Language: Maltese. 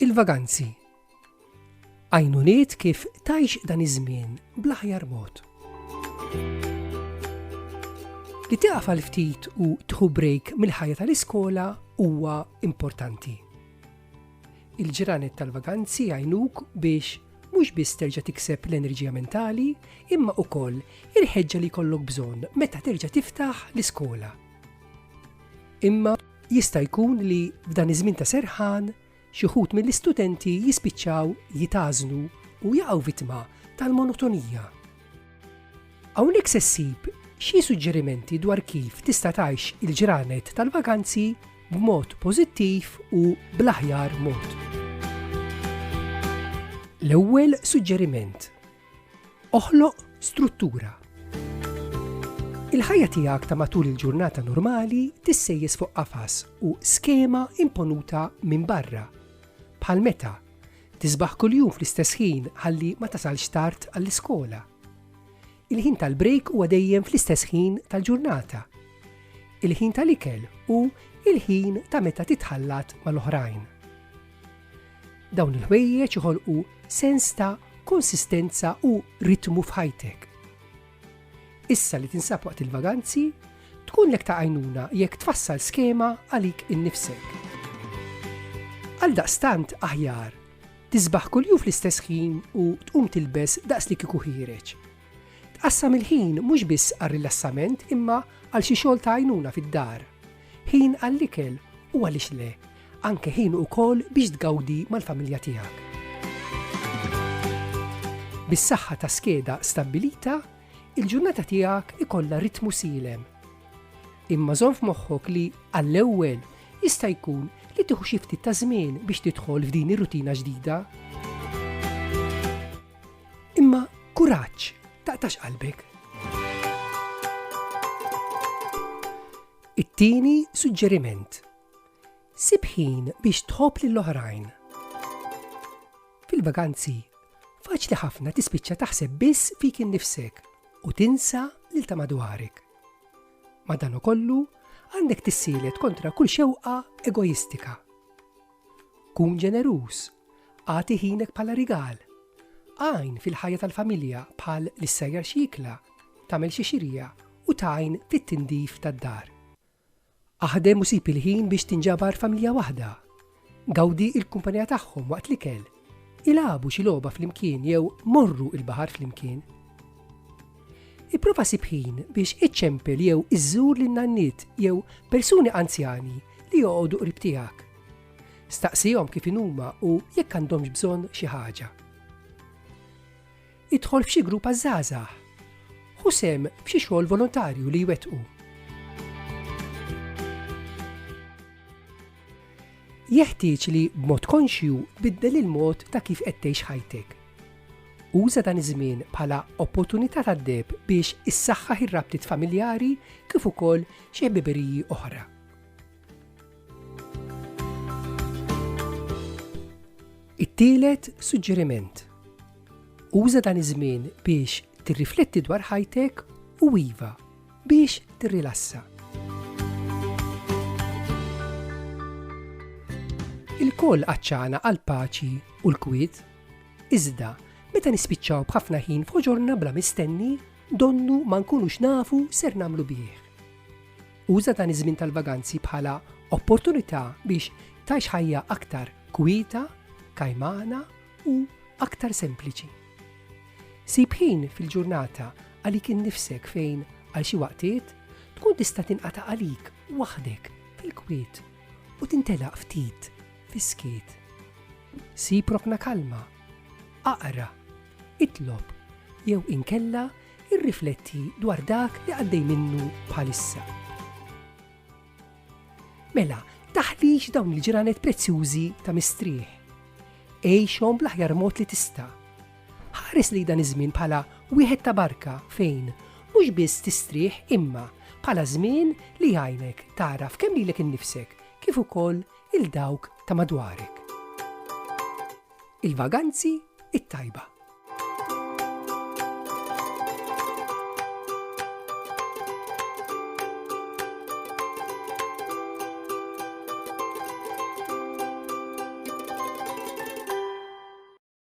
il-vaganzi. Għajnuniet kif tajx dan iż-żmien bl-aħjar mod. Li taqaf għal ftit u tħu break mill-ħajja tal-iskola huwa importanti. Il-ġranet tal-vaganzi jgħinuk biex mhux biss terġa' tikseb l-enerġija mentali, imma ukoll il-ħeġġa li jkollok bżonn meta terġa' tiftaħ l-iskola. Imma jista' jkun li f'dan iż-żmien ta' serħan xi wħud mill-istudenti jispiċċaw jitgħażnu u jaqgħu vittma tal-monotonija. Hawnhekk se ssib xi suġġerimenti dwar kif tista' tgħix il-ġranet tal-vakanzi b'mod pożittiv u bl-aħjar mod. L-ewwel suġġeriment, oħloq struttura. Il-ħajja tiegħek ta' matul il-ġurnata normali tissejjes fuq qafas u skema imponuta minn barra. Bħal meta Tisbaħ kuljum fl-istess ħin ħalli ma tasalx tard għall-iskola. Il-ħin tal-brejk huwa dejjem fl-istess ħin tal-ġurnata. Il-ħin tal-ikel u il-ħin ta' meta titħallat mal-oħrajn. Dawn il-ħwejjeġ iħolqu sens ta' konsistenza u ritmu f'ħajtek. Issa li tinsab waqt il-vaganzi, tkun lek ta' għajnuna jekk tfassal skema għalik innifsek. Għal daqstant aħjar, tisbaħ kuljum fl-istess ħin u tqum tilbes daqs li kieku ħireġ. Tqassam il-ħin mhux biss għar-rilassament imma għal xi xogħol ta' għajnuna fid-dar. Ħin għall-ikel u għaliex le, anke ħin ukoll biex tgawdi mal-familja tiegħek. Bis-saħħa ta' skeda stabbilita, il-ġurnata tiegħek ikollha ritmu silem. Imma żomm f'moħħok li għall-ewwel jista' jkun li tieħu xi ftit ta' żmien biex tidħol f'din ir-rutina ġdida. Imma kuraġġ taqtax qalbek. It-tieni suġġeriment. Sib ħin biex tħobb lil oħrajn. Fil-vaganzi, faċli ħafna tispiċċa taħseb biss fik innifsek u tinsa lil ta' madwarek. Madan ukollu, għandek tissielet kontra kull xewqa egoistika. Kun ġeneruż, għati ħinek bħala rigal. Għajn fil-ħajja tal-familja bħal l-issajjar xikla Tagħmel xi xirja u tgħin fit-tindif tad-dar. Aħdem u sib il-ħin biex tinġabar familja waħda. Gawdi l-kumpanija tagħhom waqt l-ikel. Ilagħbu xi logħba flimkien jew morru l-baħar flimkien. Ipprova sib ħin biex iċċempel jew iżżur lin nanniet jew persuni anzjani li joqogħdu qrib tiegħek. Staqsihom kif inhuma u jekk għandhomx bżonn xi ħaġa. Idħol f'xi grupp għaż-żgħażagħ. Ħu sehem f'xi xogħol volontarju li jwettqu. Jeħtieġ li b'mod konxju biddel il-mod ta' kif qed tgħix ħajtek. Uża dan iż-żmien bħala opportunità tad-deb biex issaħħaħ ir-rabtiet familjari kif ukoll xi ħbiberiji oħra. It-tielet suġġeriment. Uża dan iż-żmien biex tirrifletti dwar ħajtek u iva biex tirrilassa. Il-koll għacċana għal paċi u l-kwit, iżda meta nispiċċaw b'ħafna ħin f'ħoġorna bla mistenni, donnu ma nkunux nafu ser namlu bih. Uża dan iż-żmien tal-vaganzi bħala opportunità biex tgħix ħajja aktar kwieta, kajmana u aktar sempliċi. Sib ħin fil-ġurnata għalik innifsek fejn għal xi waqtiet tkun tista' tinqata' għalik waħdek fil-kwiet u tintelaq ftit fis-skiet. Sib rokna kalma, aqra, itlob jew inkella Irrifletti dwar dak li għaddej minnu bħalissa. Mela, taħlix dawn il-ġranet prezzjużi ta' mistrieħ. Għejxhom bl-aħjar mod li tista'. Ħares li dan iż-żmien bħala wieħed ta' barka fejn mhux biss tistrieħ imma bħala żmien li jgħinek taraf kemm lilek innifsek kif ukoll il-dawk ta' madwarek. Il-vaganzi it-tajba.